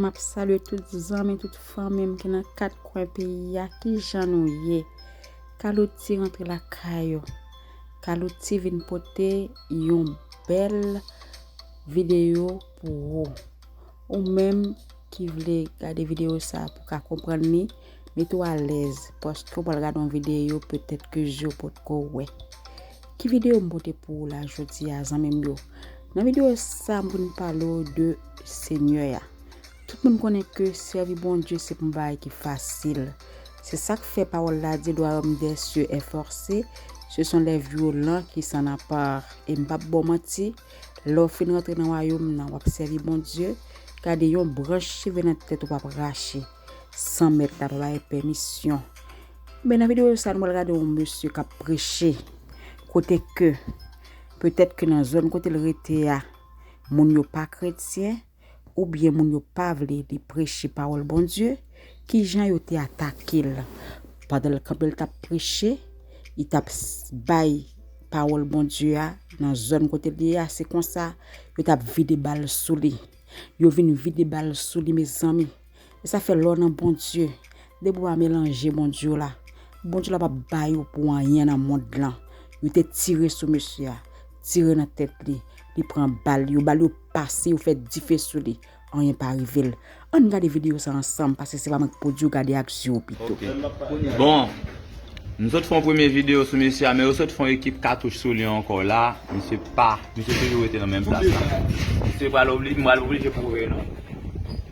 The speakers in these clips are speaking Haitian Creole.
Map salye tout zanmi tout fanmim ki nan 4 kwen peyi a kijan nou ye calouti rantre lakay ou calouti vin pote yon bèl video pou ou ou menm ki vle gade video sa pou ka konprann li. Mete w alèz paske w pral gade yon videyo petèt ke je w potko wè. Ki videyo m pote pou ou la jodi a zanmi m yo? Nan videyo sa m vin pale w de Senyè a. Tout moun konnen ke sèvi Bondye se pa yon bagay ki fasil. Se sa k fè pawòl la di lwayòm dè sye è fòse, se son lè vyolan ki san anpar. E m pap ba w manti, lè w fin rantre nan wayòm nan w ap sèvi Bondye, gade yon branch cheve nan tèt ou pap rache. San mèt la pa bay pèmisyon. Enben nan videyo sa nou pral gade yon mesye k ap preche kote ke petèt ke nan zòn kote l rete a moun yo pa kretyen oubyen moun yo pa vle li preche pawòl Bondye. Kijan yo te atake l pandan l kanpe l t ap preche, li t ap bay pawòl Bondye a nan zòn kote l ye a. Se konsa yo t ap vide bal sou li. Yo vin vide bal sou li mezanmi. E sa fè lò nan Bondye, depi ou pa melanje Bondye w la, Bondye w la pap bay ou pou anyen nan mond lan. Yo te tire sou mesye a, tire nan tèt li, li pran bal, yo bal yo pase, yo fè dife sou li, anyen pa rive l. Ann gade videyo sa ansanm, paske se pa mwen k pou di w, gade ak zye w pito. Bon, m sot fè yon premye videyo sou mesye a, men yo sot fè yon ekip katouch sou li ankò la, misye pa, misye toujou rete nan menm plas la. Misye pral oblije, m pral oblije pwouve nou.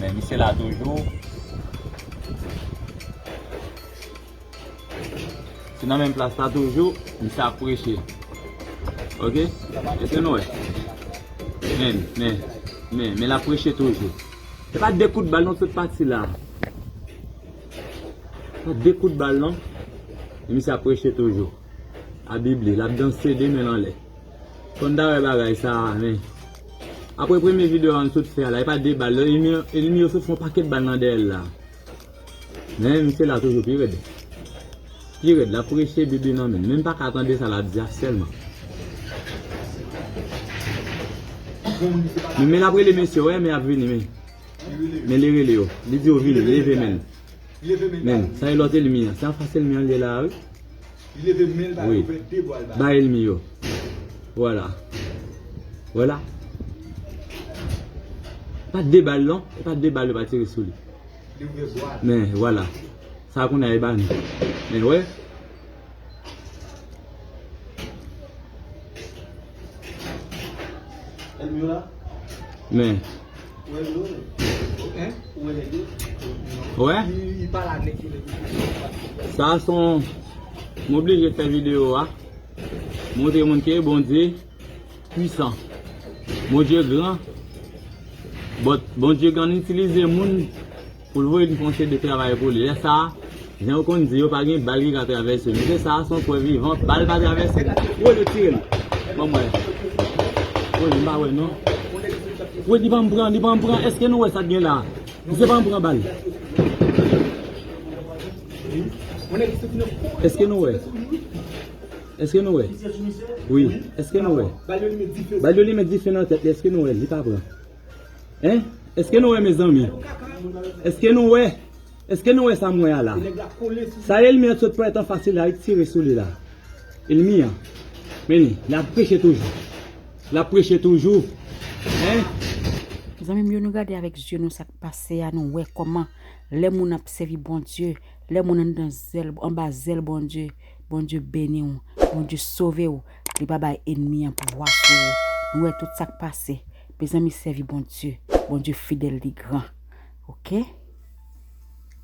Men misye la toujou. Se nan menm plas la toujou, misye ap preche. Ok? Ese nou wè. Men, men, men, men la preche toujou. Se pa de kout bal non tout pati la. Se pa de kout bal non. Misye ap preche toujou. A bibli, la danse de men anlè. Konn ta wè bagay sa men Aprè premye video an sot fè a la epa 2 bal non enemi yo sot fon pakèt bal nan dèyèl la men misye la toujou pi rèd pi rèd lap preche bebe nan menl menm paka tande sa lap di a sèlman men men lap rele mesye wè men ap vini men men li rele yo li di yo vini leve menl menl sa e lòt elmi an se anfas elmi an li ye la wi. Li leve men l bal ouvè de bwa l bal. Bay elmi yo. Vwala. Wè la. Pat de bal non. E pat de bal yo pa tire sou li. Li ouvè bwa l. Men vwala. Sa kounye a e ba nou. Men wè. Elmi yo la. Men. Wè? Sa son M oblije fè video a montre moun ke Bondye pwisan. Bondye gran. Bondye konn itilize moun. Pou l voye diponche de travay pou li. Lè sa a, jan yo konn di yo, pa gen bal ki ka travèse l. Mesye sa a se yon prèv vivan, bal pa travèse l. Woy yo tire l. Ban m wè. Woy m pa wè non. Woy li pa m pran, li pa m pran. Èske nou wè sa k gen la a? Misye pa m pran bal. Èske nou wè? Èske nou wè? Wi. Èske nou wè? Bal yo limen dife nan tèt li. Èske nou wè l? Li pa pran. Hein eske nou wè mezanmi eske nou wè eske nou wè sam wè a la sa elmi an t sot pran etan fasil la lik tire souli la elmi an men li lap preche toujou lap preche toujou hein. Zanmim yo nou gade avèk zye nou sak pase a nou wè kòman lè moun ap sèvi Bondye lè moun andan zèl anba zèl Bondye Bondye beniw Bondye sovew Li pa bay enmi an pouvwa sou ou nou wè tout sak pase mezanmi sèvi Bondye Bondye fidèl li gran ok.